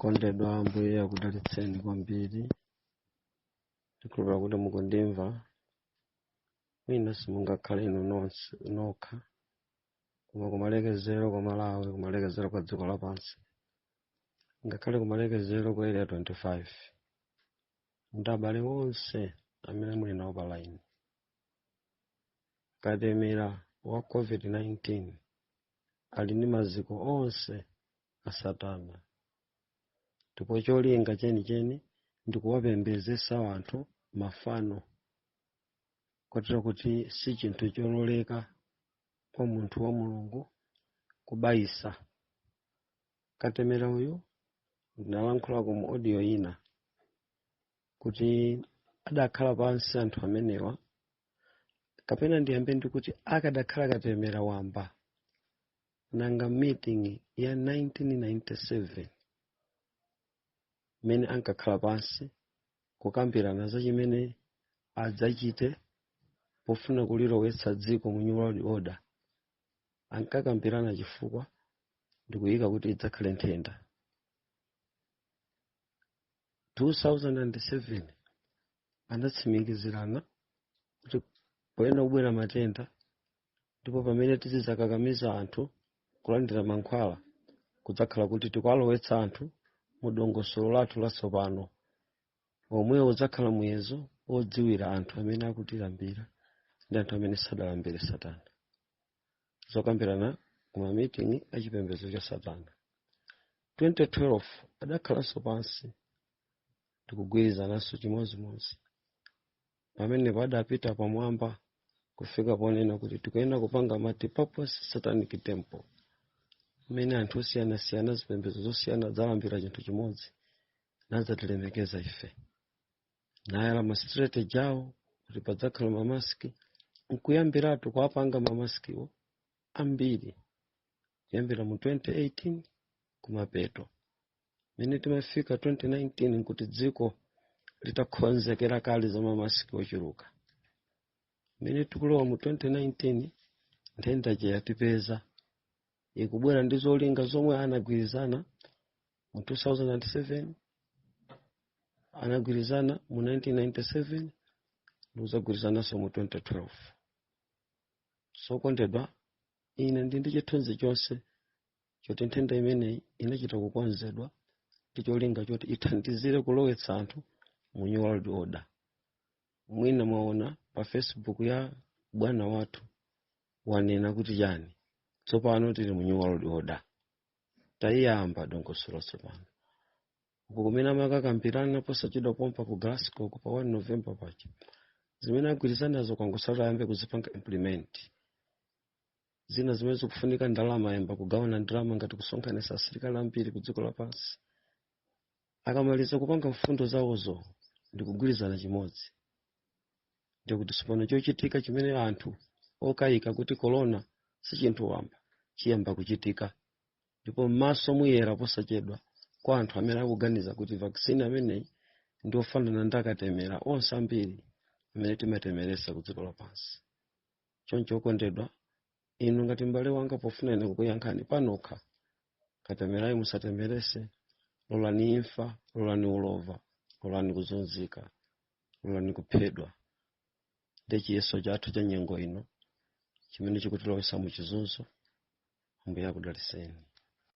kondedwa ambuye akudalitseni kwambiri ndikhulupira kuti mukundimva mwina simungakhale inu nonse nokha koma kumalekezero kwa malawi kumalekezero kwa dziko lapansi ngakhale kumalekezero kwa area 25 ndi abale onse amene muli nawo pa line katemera wa covid-19 ali ndi maziko onse a satana ndipo cholinga chenicheni ndi kuwapembezesa anthu mafano kotero kuti si chinthu chololeka kwa munthu wa mulungu kubayisa katemera uyu ndinalankhulako mu audio ina kuti adakhala pansi anthu amenewa kapena ndiyambe ndikuti akadakhala katemera wamba nanga meeting ya 1997 mmene ankakhala pansi kukambirana za chimene adzachite pofuna kulilowetsa dziko mu new world order ankakambirana chifukwa ndikuyika kuti idzakhale nthenda 2007 anatsimikizirana kuti payenera kubwera matenda ndipo pamene tizidzakakamiza anthu kulandira mankhwala kudzakhala kuti tikuwalowetsa anthu mu dongosolo lathu latsopano omwe udzakhala muyezo wodziwira anthu amene akutilambira ndi anthu amene sadalambire satana zokambirana kumamiting'i a chipembedzo cha satana 2012 adakhalanso pansi ndikugwirizananso chimodzimodzi pamenepa adapita pamwamba kufika ponena kuti tikuyenera kupanga multipurpose satanic temple mmene anthu osiyanasiyana zipembedzo zosiyana adzalambira chinthu chimodzi nadzatilemekeza ife nayala ma strategy awo kuti padzakhala mamasiki nkuyambiratu kuwapanga mamasikiwo ambiri kuyambira mu 2018 kumapeto mene timafika 2019 nkuti dziko litakhonzekera kale za mamasiki ochuluka mene tikulowa mu 2019 nthenda ija yatipeza ikubwera ndi zolinga zomwe anagwirizana mu 2007 anagwirizana mu 1997 ndikuzagwirizananso mu 2012 so okondedwa ine ndili ndi chithunzi chonse choti nthenda imeneyi inachita kukonzedwa ndi cholinga choti ithandizire kulowetsa anthu mu new world order mwina mwaona pa facebook ya bwana wathu wanena kuti chani tsopano tili mu new world order tayiyamba dongosolo tsopano uko kumene amakakambirana posachedwa pompa ku glasgow pa 1 november paja zimene agwirizanazo kwangosala ayambe kuzipanga implement zina zimene zikufunika ndalama ayamba kugawana ndalama ngati kusonkhanisa asilikali ambiri ku dziko lapansi akamaliza kupanga mfundo zawozo ndi kugwirizana chimodzi ndikuti tsopano chochitika chimene anthu okayika kuti korona si chinthu wamba chiyamba kuchitika ndipo m'maso muyera posachedwa kwa anthu amene akuganiza kuti vaccine ameneyi ndi ofanana ndi akatemera onse ambiri amene timatemeresa ku dziko lapansi choncho okondedwa inu ngati m'bale wanga pofuna ine kukuyankhani panokha katemerayi musatemerese lolani imfa lolani ulova lolani kuzunzika lolani kuphedwa ndi chiyeso chathu cha nyengo ino chimene chikutilowesa mu chizunzo ambuye akudaliseni